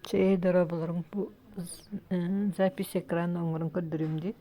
Чээи дороболоруҥ бу запись экрана оҥорон көрдөрүөм дии.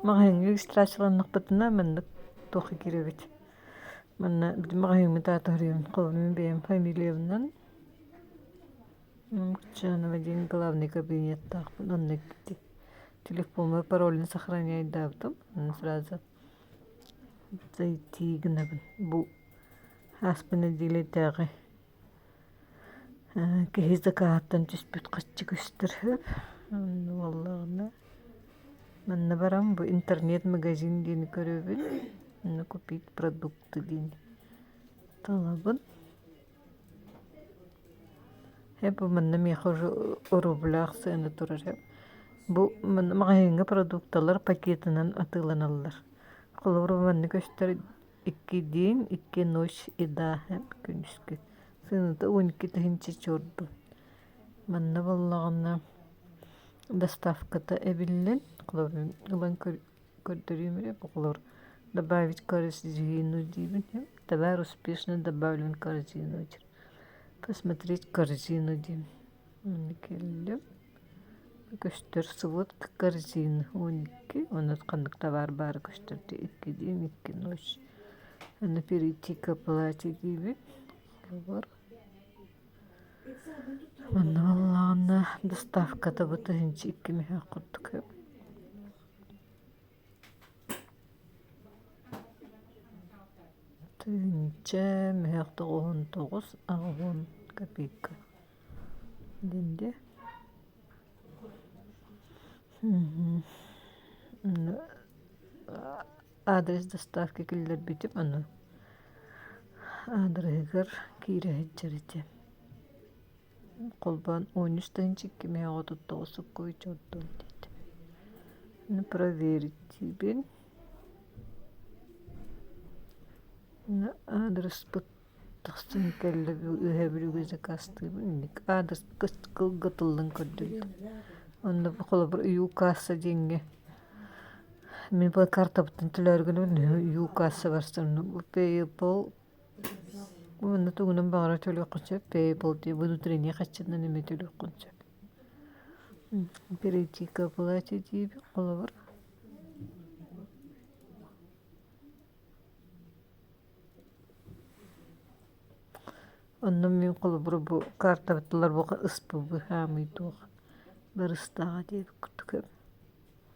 Маҕаһыыҥҥа регистрацияланнахпытына маннык туохха киирэбит. Манна бити маҕаһыыммыт аата суруйабын. Холобурум бэйэм фамилиябынан Лукчанова диэн главнай кабинеттаахпын. Онно киирдим. Телефоммар паролун сохраняйдаабытым. Онно сразу зайти гынабын. Бу ааспын нэдиэлэтээҕи киһи закааттан түспүт хаччы көстөр үһү буоллаҕына манна баран бу интернет магазин диэни көрөбүн манна купить продукты диэни талабын бу манна миэхэ уже рублях сыана турар бу манна маҕаһыыҥҥа продукталар пакетынан атыыланаллар холобура манна көстөр иккидиин икки ночь еда күнүскү сыныта уон икки тыһыынча чуорду манна буоллаҕына доставката эбиллэн холобурун ылан көрдөрүүм эрэ холобур добавить корзину диибин товар успешно добавлен корзину посмотреть корзину диэн Кэллим көстөр сылыт корзина он икки онно ханнык табаар баара көстөрдө икки диэм икки ночь аны перейти к оплате диэбит кэлбэр манна баллаҕанна доставката быта инчи икки мөһөөх курдук эбит Тыһыынча мөһөх тоҕуһун тоҕус аҕыһын копейка деньги адрес доставки киллэрбитим аны аадырыһыгар киирэ сылдьар ити холбоон он үстэн чиккимэ оҕо туттоҕус суккуйчу оттуом диэт провердиибин аадырыспыт тахсан кэллэ өһөбүлүгү закастыыбын инник аадырыс кылгатыллан көрдөрдүм онно холобур ю касса диэҥҥэ мин бу картабыттан төлөөргүнүм үһү ю касса барсан пэйэпл Уонна тугунан баҕарар төлүөххүн сөп пейбл дии внутренний хаччыннан эмэ төлүөххүн сөп перейти к оплате диэбит холобур онно мин холобур бу картабыт талар бука ыспы быһаамый туох барыстааҕа диэбит курдук эбит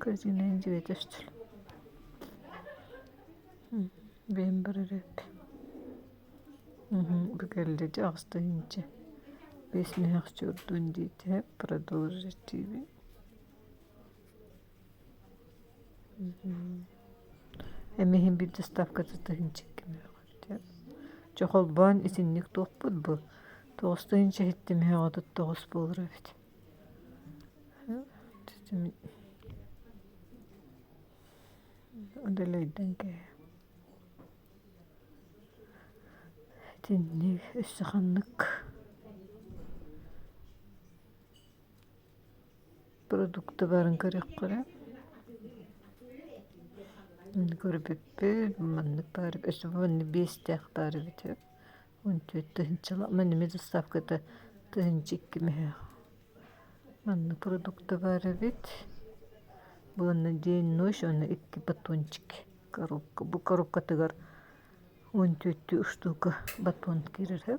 кыратыгынан дьиэтэ өстүл бэйэм барар эргэ бу кэллэ дьэ аҕыстаһыынча биэс мөһөөччү ордун диэтэ продолжить тиви эми иһин биир доставката тыһыынча икки мөҕө дьэ холбоон итинник туохпут бу тоҕус тыһыынча иһиттэ мөһөҕө отут тоҕус буолар эбит удалайдан кээһэ итинник өссө ханнык продуктыбарын көрүөххэ көрбүппүт маннык баар өс уонна биэстээх баар эбитэ он түөрт тыһыынчалаах манными доставката тыһыынча икки мөһө манна продукта баар эбит уонна день ночь уонна икки батончик коробка бу коробкатыгар он төрттүү штука батон киирэрэ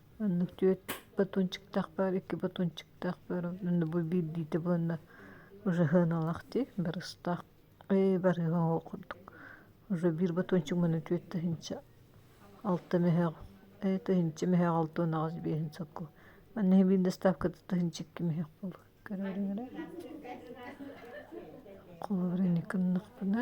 Оннук түөрт батончиктаахпар, икки батончиктаахпар, онно бу биирдиитэ буоланнар ужаһыаналаах дии, барыстаах ээ барыаҕа ол курдук. Уже биир батончик манна түөрт тыһыынча алта мөһөөҕү ээ тыһыынча мөһөөҕү алта уон аҕыс биэһин сакка манна иһэ биир доставката тыһыынча икки мөһөөх буолуо көрөөрүҥ эрэ холобур инники гыннахпына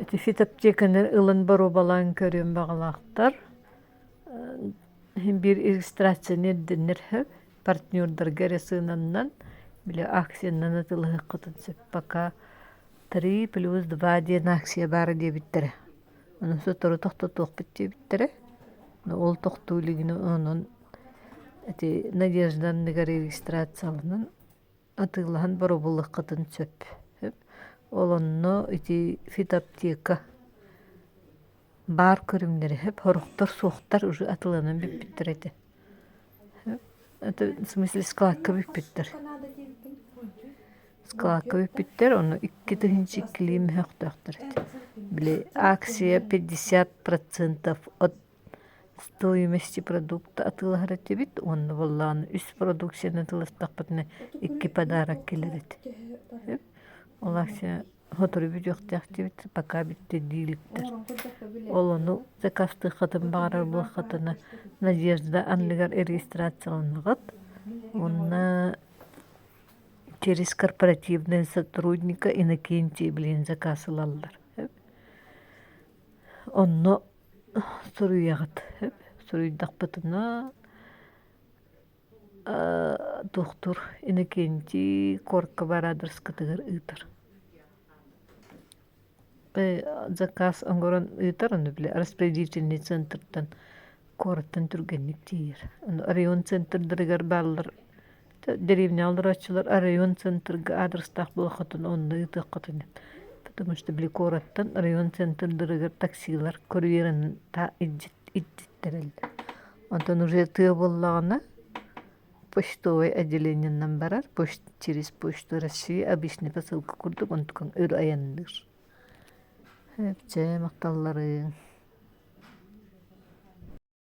Ити фитоаптеканы ылан боруобалаан көрүөн баҕалаахтар. Иһин биир иллюстрацияны ирдэнэр сөп. Партнердарга эрэ сыананнан, били акциянан атылыһыккытын сөп. Пока три плюс два диэн акция баар диэбиттэрэ. Ону сотору тохтотуохпут диэбиттэрэ. Ол тохтуу илигин онон ити Надежда анныгар регистрацияланан атыылаһан боробуллаххытын сөп ол онно ити фитоаптека баар көрүҥнэрэ сөп сорохтор суохтар уже атыыланан бүппүттэр этэ это в смысле складка бүппүттэр складка бүппүттэр ону икки тыһыынча иккилии мөһөхтөөхтөр этэ били акция пятьдесят процентов от стоимости продукта атыылаһар этибит уонна буоллаҕына үс продукцияны атыыластахпытына икки подарок кэлэр эт ол акция сотору бүтүөхтээхтибит пока бүттэ дииликтэр ол ону закастыаххытын баҕарар буоллаххытына надежда анныгар регистрацияланыгыт уонна через корпоративнай сотрудника иннокентий блин заказ ылаллар онно суруйаҕыт суруйдахпытына доктор иннокентий коркова радарскатыгар ыытар заказ оҥорон ыытар аны били распределительнай центртан куораттан түргэнник тиийэр район центрдарыгар бааллар деревня олорооччулар оройуон центрга аадырыстаах буолуоххутун онно ыытыаххутун потому что били куораттан оройуон центрдарыгар таксилар курьерын та ититтэрэллэр онтон уже тыа буоллаҕына почтовай отделениенан барар через почту россии обычный посылка курдук онтукан өр айанныыр чэ махталларыҥ